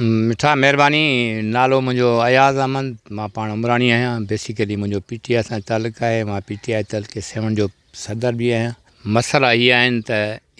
مٺا مهرباني نالو منهنجو اياز احمد مان پاڻ عمراڻي آهيان بيسيڪلي منهنجو پي ٽي آء سان تعلق آهي مان پي ٽي آء تحلڪي سيون جو صدر به آهيان مسئلا هي آهن ته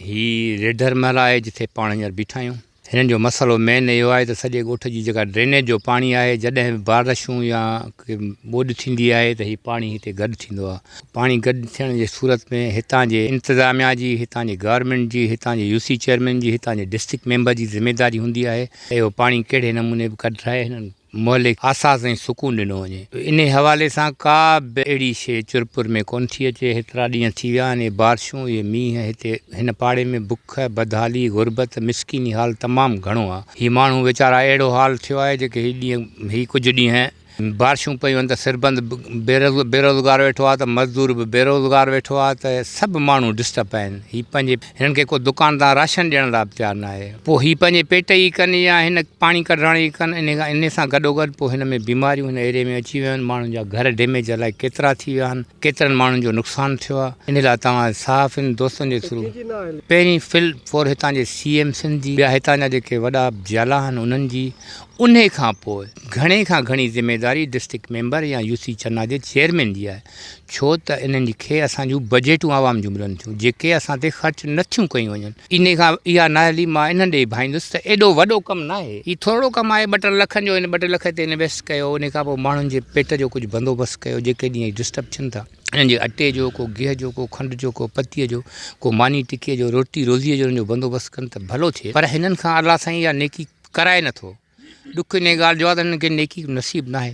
هي ريڍر محل آهي جتي پاڻ هينئر بيٺا آهيون هنن جو مسئلو مين اهو آهي ته سڄي ڳوٺ جي جيڪا ڊرينيج جو پاڻي آهي جڏهن به بارشون يا ڪي ٻوڏ ٿيندي آهي ته هي پاڻي هتي گڏ ٿيندو آهي پاڻي گڏ ٿيڻ جي صورت ۾ هتان جي انتظاميا جي هتان جي گورنمينٽ جي هتان جي يوسي چيئرمين جي هتان جي ڊسٽرڪٽ ميمبر جي ذميداري هوندي آهي ته اهو پاڻي ڪهڙي نموني به ڪڍرائي هنن مهلڪ احساس ۽ سڪون ڏنو وڃي انهي حوالي سان ڪا به اهڙي شيء چرپر ۾ ڪونه ٿي اچي هيترا ڏينهن ٿي ويا آهن اهي بارشون اهي مينهن هتي هن پاڙي ۾ بک بدحالي غربت مسڪيني حال تمام گهڻو آهي هي ماڻهو ويچارا اهڙو حال ٿيو آهي جيڪي هي ڏينهن هي ڪجهه ڏينهن بارشون پيون آهن ته سربند بي روزگار ويٺو آهي ته مزدور به بي روزگار ويٺو آهي ته سڀ ماڻهو ڊسٽرب آهن هي پنهنجي. هنن کي ڪو دڪان تان راشن ڏيڻ لاء به تيار ناهي. پوء هي پنهنجي پيٽ ئي ڪن يا هن پاڻي ڪڍرائڻ ئي ڪن. انهي سان گڏوگڏ پوء هن ۾ بيماريون هن ايريي ۾ اچي ويون آهن. ماڻهن جا گهر ڊيميج الائي ڪيترا ٿي ويا آهن. ڪيترن ماڻهن جو نقصان ٿيو آهي. انهي لاء توهان صحافين دوستن جي ٿرو پهرين فل فور هتان جي سي ايم سنڌ جي ٻيا هتان جا جيڪي وڏا جيالا آهن انهن جي انهي کان پوء گهڻي کان گهڻي ذميداري ڊسٽرڪٽ ميمبر يا يو سي چنا جي چيئرمين جي آهي. ڇو ته انهن کي اسان جون بجيٽون عوام جون ملن ٿيون جيڪي اسان تي خرچ نه ٿيون ڪيون وڃن. انهي کان اها نااهلي مان انهن ڏي ڀائيندس ته ايڏو وڏو ڪم ناهي هي ٿورڙو ڪم آهي ٻه ٽن لکن جو هن ٻه ٽي لک هتي انويسٽ ڪيو انهي کان پوء ماڻهن جي پيٽ جو ڪجهه بندوبست ڪيو جيڪي ڏينهن ڊسٽرب ٿين ٿا انهن جي اٽي جو ڪو گيهه جو ڪو کنڊ جو ڪو پتيء جو ڪو ماني ٽڪي جو روٽي روزيء جو انهن جو بندوبست ڪن ته ڀلو ٿئي پر هنن کان الله سائين اها نيڪي ڪرائي نه ٿو ڏک انهي ڳالهه جو آهي ته هنن کي نيڪي نصيب ناهي.